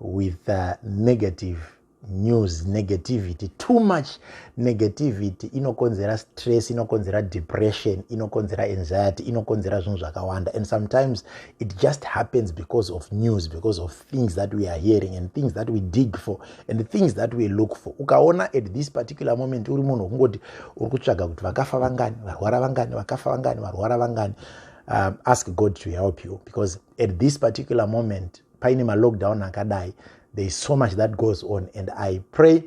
with uh, negative news negativity too much negativity inokonzera stress inokonzera depression inokonzera anxiety inokonzera zvinhu zvakawanda and sometimes it just happens because of news because of things that we are hearing and things that we dig for and things that we look for ukaona at this particular moment uri munhu wekungoti uri kutsvaga kuti vakafa vangani varwara vangani vakafa vangani varwara vangani um, ask god to help you because at this particular moment paine malockdown akadai there is so much that goes on and i pray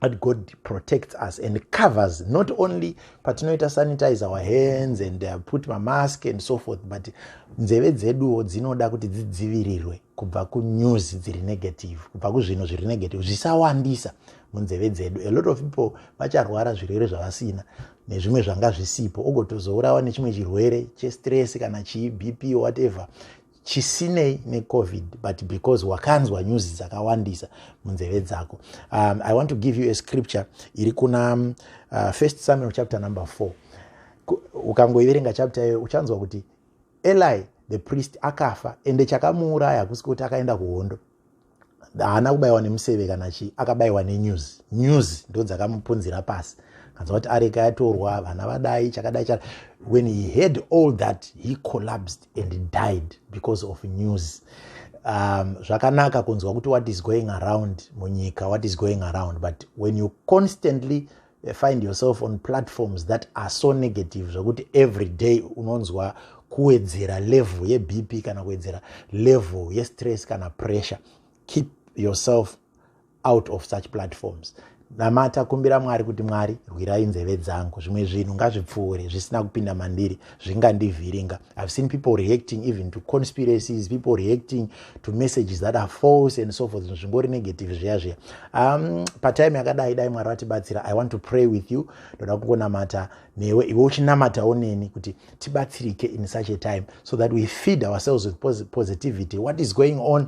that god protects us and covers not only patinoita sanitize our hands and uh, put mamask and so forth but nzeve dzeduwo dzinoda kuti dzidzivirirwe kubva kunews dziri negative kubva kuzvinhu zviri negative zvisawandisa munzeve dzedu a lot of people vacharwara zvirwere zvavasina nezvimwe zvanga zvisipo ogotozourawa nechimwe chirwere chestress kana chii bp whatever chisinei necovid but because wakanzwa news dzakawandisa munzeve dzako um, i want to give you a scripture iri kuna um, uh, first samuel chapter number 4 ukangoiverenga chapter iyoyo uchanzwa kuti eli the priest akafa ende chakamuuraya hakusi kuti akaenda kuhondo haana kubayiwa nemuseve kana chii akabayiwa nenews news ndo dzakamupunzira pasi kanza kuti areka yatorwa vana vadai chakadai chaka when he heard all that he collapsed and he died because of news um, zvakanaka kunzwa kuti what is going around munyika what is going around but when you constantly Eh, find yourself on platforms that are so negative zvokuti every day unonzwa kuwedzera level yebp kana kuwedzera level yestress kana pressure keep yourself out of such platforms namata kumbira mwari kuti mwari rwirai nzeve dzangu zvimwe zvinhu ngazvipfuure zvisina kupinda mandiri zvingandivhiringa i've seen people reacting even to conspiracies people reacting to messages that are false and so forth zvingori negative zviya zviya um, patime yakadai dai mwari vatibatsira i want to pray with you ndoda kungonamata newe iwe uchinamatawo neni kuti tibatsirike in such a time so that we feed ourselves with positivity what is going on